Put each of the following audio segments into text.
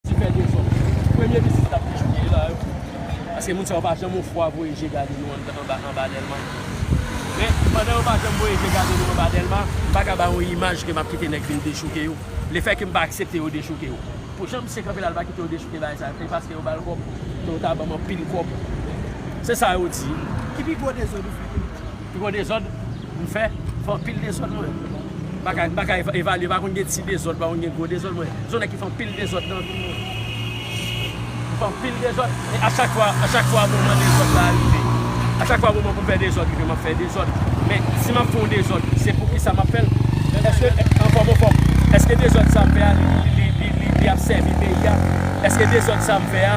Ti pè dezòd. Premye vizit lap fè peyi la yo. Paske moun sa yo pa janm yon fwa voye je gade nou anba Dèlma. Men, pandan yo pa janm voye je gade nou anba Dèlma, m pa ka bay yon imaj ke map kite nèg vin dechouke yo. Le fè ke m pa aksepte yo dechouke yo. Pou jan misye kanpe la li pa kite yo dechouke bagay sa. E paske yo bal kòb. Ke yo ta banm anpil kòb. Se sa yo di. Ki pi gwo dezòd ou fè peyi la? Pi gwo dezòd m fè, fè anpil dezòd mwen. Bagay, bagay evalye, pa konn gen ti dezòd, pa konn gen gwo dezòd mwen. Se yon nèg ki fè anpil dezòd nan vi l mwen. M fè anpil dezòd, e a chak fwa, a chak fwa moman dezòd la rive. A chak fwa moman pou m fè dezòd rive, m ap fè dezòd. Men, si m ap fè yon dezòd, se pou kisa m ap fè l? Èske, anfòm anfòm, èske dezòd sa m fè a, li, li, li, li ap sèvi peyi a? Èske dezòd sa m fè a.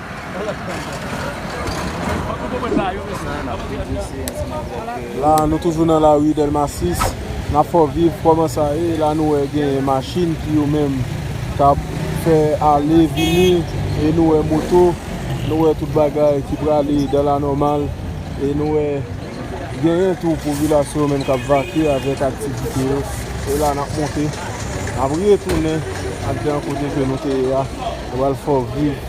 La nou toujou nan la rue Delma 6 Nap fè w viv kòman sa ye La nou wè gen machin ki yo menm Kap fè ale vini E nou wè moto Nou wè tout bagay ki prale dan la nòmal E nou wè Genyen tou popilasyon menm kap vake avèk aktivite yo E la nap monte Nap retounen Andedan kote ke nou te ye a Nou pral fè w viv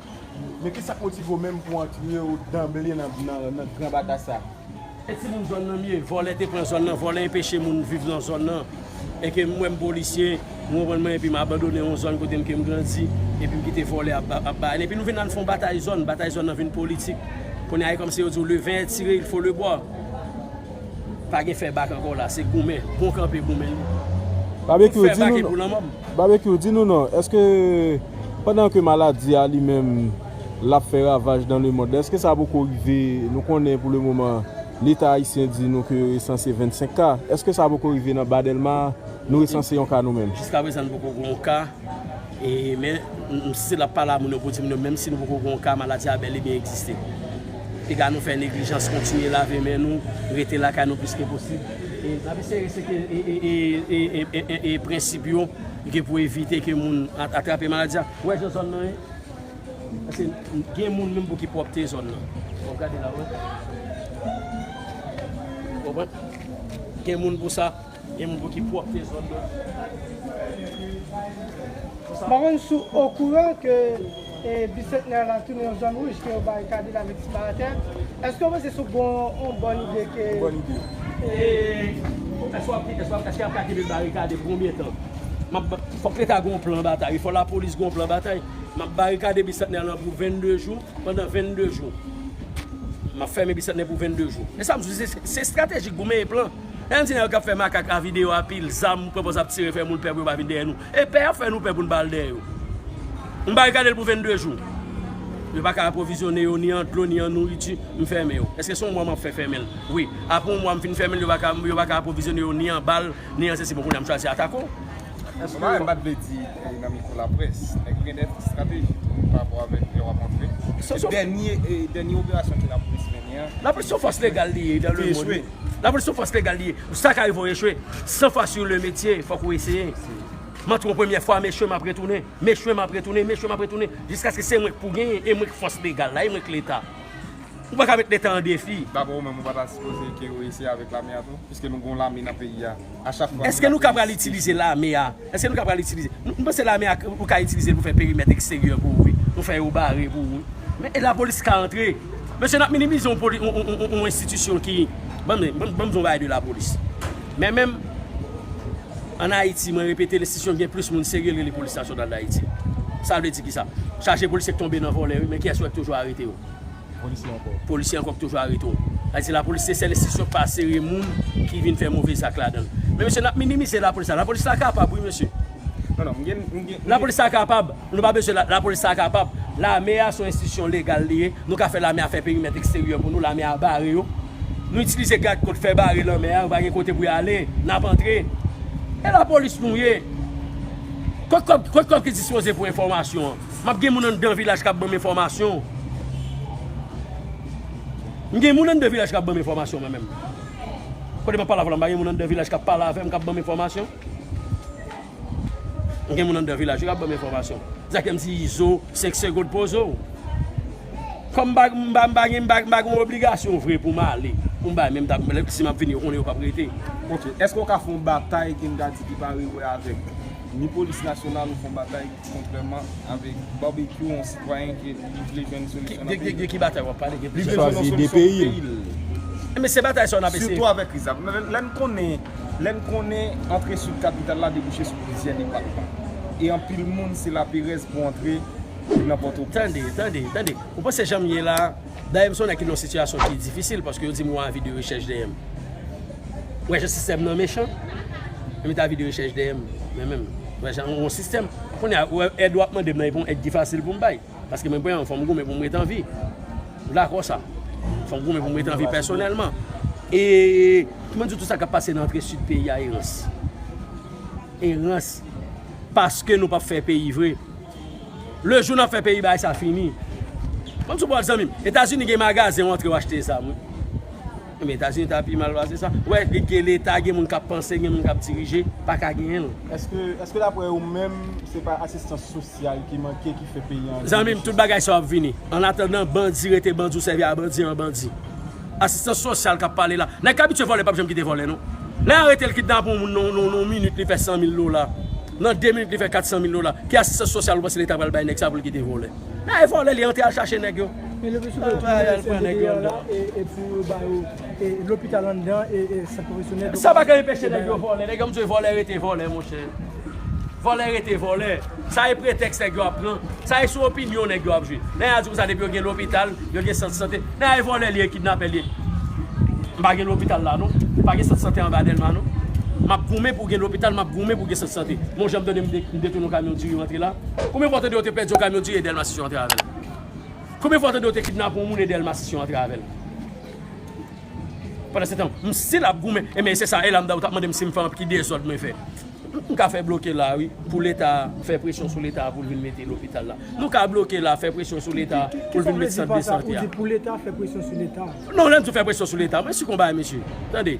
Men kisa k motive w menm pou w antre w danble nan gran batay sa a? E ti moun zòn nan m ye, vòlè te pran zòn nan, vòlè enpeche moun viv nan zòn nan, e ke m wè m polisye, ou konprann mwen, e pi m abandone yon zòn kote m ke m grandi, e pi m kite vòlè ap bay, e pi nou vin nan fon batay zòn, batay zòn nan vin politik, kounye a e kòmsi yo di w le vin est tire il faut le boire, pa gen fè bak ankò la, se goumen, bon kanpe goumen li, pou fè bak e pou lanmò m. Babekyou, di nou non, èske. pandan ke maladi a li menm lap fè ravaj dan le mond, eske sa poko rive, nou konnen pou le moman leta ayisyen di nou ke yo resanse 25 ka, eske sa poko rive nan ba Dèlma a, nou resanse yon ka nou menm? Jiska prezan nou poko gen yon ka, e men si se lap pale a moun yo pou di moun yo menm si nou poko gen yon ka maladi a bèl e byen egziste. Piga nou fè neglijans kontinye lave men nou, rete lakay nou plis ke posib, e nap eseye reskpete prensip yo. Li gen pou evite ke moun atrape maladi a. Wè jan zòn nan ye. Paske gen moun menm pou ki pwòpte zòn nan. Wap gade la wè. Konprann? Gen moun pou sa. Gen moun pou ki pwòpte zòn nan. Mpa konn si w okouran ke. E bisantnè la tounen yon zòn wouj ke yo bay kadil avèk ti baratè. Eske w panse se yon bòn ide ke. Yon bòn ide. E eske wap di, eske yap ka kenbe barikade pou konbyen tan? Map ba, fòk leta gen yon plan batay, fòk lapolis gen yon plan batay. Map barikade bisantnè lan pou 22 jou, pandan 22 jou. Map fèmen bisantnè pou 22 jou. E sam di se, se estratejik pou menyen plan. Lè nou di nèg yo kap fè makak a videyo a pil zam, pwèpòz ap tire fè moun pè pou yo pa vin dèyè nou. E pè a fè nou pè pou n ba l dèyè yo. M barikade l pou 22 jou. Yo pa ka apwovizyone yo ni an dlo ni an nouriti. M fèmen yo. Èske se yon mwa m ap fè fèmen l? Wi. Apre yon mwa m fin fèmen l, yo pa ka apwovizyone yo ni an bal, ni an sesi. Bon, kounye a m chwazi atake w. Èske yo. Sa m pa t vle di pou nan mikwo laprès. Nèg gen dèt estrateji tou pa rapò avèk lè w ap antre. Se dènye operasyon ke lapolis mennen an. Lapolis se yon fòs legal li ye dan lemonn. La polis son fòs legal li ye. Ou sa ka rive ou echwe. San fwa sur le metye, fòk ou eseye. M antre yon premyè fwa, m echwe m ap retounen. M echwe m ap retounen, m echwe m ap retounen. Jiskaske se mwen k pou genyen, e mwen k fòs legal la, e mwen k leta. Ou pa ka met leta an defi. Dapre ou menm, ou pa ta sipoze ke yo eseye avèk lame a tou? Piske nou gen yon lame nan peyi a. Eske nou ka pral itilize lame a? Eske nou ka pral itilize? M panse lame a ou ka itilize l pou fè perimèt eksteryè pou ou wi. Nou fè yo bare pou ou. Men e lapolis ka antre? Mesye n ap minimize yon poli yon enstitisyon ki Ban m ban m di yon bagay de lapolis. Men menm ann Ayiti mwen repete l enstitisyon ki gen plis moun serye l rele Polis Nasyonal Dayiti. Sa vle di ki sa? Chaje polisye k tonbe nan vòlè wi men kiyès wè k toujou arete yo? Polisye ankò ki toujou arete w. Sa vle di lapolis se sèl enstitisyon ki pa sere moun ki vin fè move zak ladan l. Men mesye n ap minimize lapolis la. Lapolis la kapab wi mesye. Lapolis la kapab. Nou pa bezwen lapolis la kapab. Lame a se yon enstitisyon legal li ye. Nou ka fè lame a fè perimèt eksteryè pou nou. Lame a bare yo. Nou itilize gad kot fè bare lanmè a. Yo pa gen kote pou yo ale. N ap antre. E lapolis nou ye. Kot kòb ki dispoze pou enfòmasyon an? Map gen moun anndan vilaj kap banm enfòmasyon. M gen moun anndan vilaj kap banm enfòmasyon mwen menm. Kote map pale avèw la m pa gen moun anndan vilaj kap pale avèm kap banm enfòmasyon. M gen moun anndan vilaj wi kap banm enfòmasyon. Sa k fèm di izo 5 segond poze w. Kòm m pa m pa m pa gen m pa gen yon obligasyon vre pou m ale. Pou m bay men m tap lè si map vini yo konnen yo pap rete. Ok, eske w ka fè yon batay Gengadi ki pa rewè avèk ni polis nasyonal ou fè yon batay. Kontrèman avèk Barbecue yon sitwayen ki li vle jwenn solisyon nan peyi l. De ki batay wap pale? Li chwazi de peyi l. Men se batay sa yo nap eseye. Sitou avèk kriz la. Lè n konnen, lè n konnen antre Sid kapital la debouche sou plizyè depatman. E anpil moun se laperèz pou antre nan Pòtoprens. Tande, tande, tande. Ou panse jan m ye la. Dayè m sonnen ki nan sitiyasyon ki difisil paske yo di m yon avi de rechèch dèyè m. Ou wè jan sistèm nan mechan? Yo met avi de rechèch dèyè m men menm. Ou wè jan yon sistèm. Kounye a, ou wè èd w ap mande m nan epi yon èd ki fasil pou m bay. Paske mwen pran yon fò m goumen pou m ret an vi. Ou dakò sa? Fò m goumen pou m ret an vi pèsonèlman. E kman di w tou sa k ap pase nan antre sid peyi a e rans. E rans. Paske nou p ap fè peyi vre. Le jou nap fè peyi bay sa fini. Banm sou bòt zanmim. Etazini gen magazen ou antre ou achte zam wi. Ebyen etazini ta pi mal pase sa. Ou wè gen leta gen moun kap panse gen moun kap dirije paka genyenl. Eske daprè ou menm se pa asistans sosyal ki manke ki fè peyi an vini sou sa. Zanmim tout bagay sa yo ap vini. An atandan bandi rete bandi ou sèvi a bandi an bandi. Asistans sosyal kap pale la. Nèg k abitye vòlè pap janm kite vòlè non. Lè yo aretel kidnape yon moun nan yon minit li fè 100 mil dola. Nan 2 minit li fè 400 mil dola. Ki asistans sosyal ou panse leta pral bay nèg sa pou l kite vòlè? Bay vòlè li antre al chache nèg yo. E leble sou do tou al pran nèg yo andan. E pou yo ba yo lopital andan e sant pwofesyonèl. Sa pa ka enpeche nèg yo vòlè. Nèg yo ap mnzwe vòlè rete vòlè monchè. Vòlè rete vòlè. Sa e pretèks nèg yo ap pran. Sa e sou opinyon nèg yo ap jwe. Lè ya di konsa depi yo gen lopital. Yo gen sant sante nan ay vòlè liye kidnapè liye m pa gen lopital la non m pa gen sant sante anba delma non m ap goumen pou gen lopital m ap goumen pou gen sant sante m on jan m tande m detounen yon kamyon diri rantre la konbyen fwa w tande yo te pèdi yon kamyon diri e delmasis yo antre avèl konbyen fwa w tande yo te kidnape yon moun e delmasis yo antre avèl. Pandansetan, m stil ap goumen. Enben, e se sa Elam da ou t ap mande m si m fè anpl. Ki dezòd mwen fè? M ka fè bloke la a wi, pou Leta a, fè presyon sou Leta a pou l vin mete lopital la. Nou ka bloke la a, fè presyon sou Leta a pou l vin mete sant de sante a. Ki sa w vle di pa sa? Ou di pou Leta a fè presyon sou Leta a? Non, lè m di w fè presyon sou Leta a, mwen sikonn bagay mesye. Tande,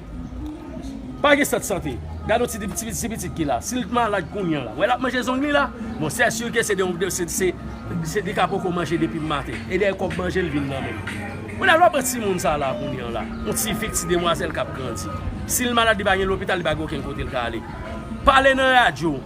pa gen sant sante. Gade yon ti pitit ki la. Si l t malad kounye an la, wè l ap manje zong li la? Bon, sè sir ke se de yon, se, li ka poko manje depi maten. E dèyè kòb manje l vin nan men l. Kounye a lè w pran timoun sa la kounye an la, yon ti fi, ti demwazèl k ap grandi, si l malad li pa gen lopital, li pa gen okenn kote l ka ale. Pale nan radyo,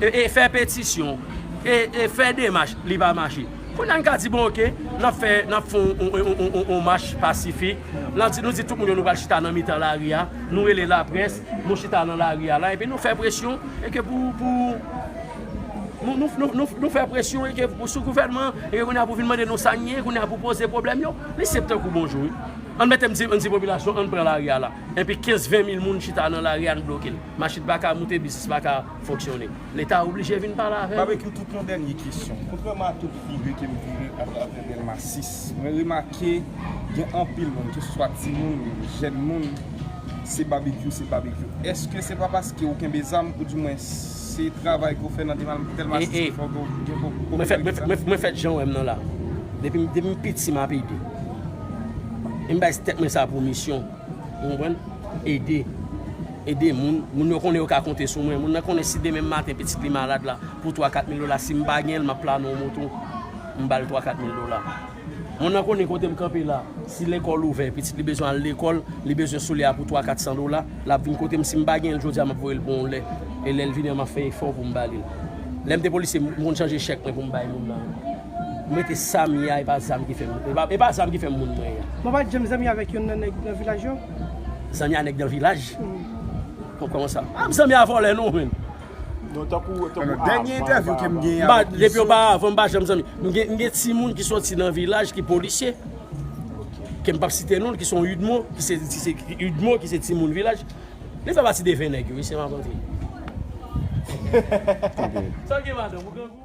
e fè petisyon, e fè demach, li pa mache. Kounye a n ka di bon oke, n ap fè, n ap fè yon mach pasifik, n ap di, nou di tout moun yo nou pral chita nan mitan lari a, nou rele laprès, nou chita nan lari a la, epi nou fè presyon, e ke pou. Nou fè presyon sou gouvènman an, epi kounye a pou vin mande nou sa n ye, kounye a pou poze pwoblèm yo. Li senp tankou bonjou wi. An mete m di popilasyon an pran lari a la. Enpi 15, 20 mil moun chita nan lari a n bloke l. Machin pa ka moute, biznis pa ka fonksyone. Leta oblije vin pale avè nou. Babekyou tout yon dènye kesyon. Kontrèman a tout vire ke m vire atravè Dèlma 6, mwen remake gen anpil moun, keseswa timoun, jèn moun, se babekyou, se babekyou. Eske se pa paske ou kenbe zam, ou di mwens, Se travay ke w fè nan Delmas 6 ki fè w gen popilarite sa? Mwen fèt jan w wè m nan la. Depi m piti m ap ede. E m bay tèt mwen sa pou misyon. Ou konprann? Ede. Ede moun. Moun yo konnen yo ka konte sou mwen. Moun nan konnen si demen maten pitit li malad la, pou twa kat mil dola, si m pa gen l m ap plannen yon moto, m ba l twa kat mil dola. Moun nan konnen kote m kanpe la. Si lekòl ouvè, pitit li bezwen al lekòl, li bezwen soulye a pou twa kat san dola, l ap vin kote m. Si m pa gen l jodi a, m ap voye l pou yon lè. E lè l vini an, m ap fè efò pou m ba li l. Lè m te polisye, m konn chanje chèk mwen pou m bay moun nan yo. M rete sa m ye a, e pa zam ki fè m e pa zam ki fè m moun mwen ye a. Mwen pa t janm zanmi avèk yonn nan nèg nan vilaj yo. Zanmi a nèg nan vilaj? Kòman sa? M pa zanmi a vòlè non, menn. Non tankou avan. Nan dènye entèvyou ke m genyen avèk misye. Depi yo pa avan m pa janm zanmi. M gen timoun ki soti nan vilaj ki polisye. Ke m pap site non l ki son udmo. Ki se udmo ki se timoun vilaj. Li fè pati de 20 nèg yo wi se m ap rantre. Sa w gen madanm ou grangou?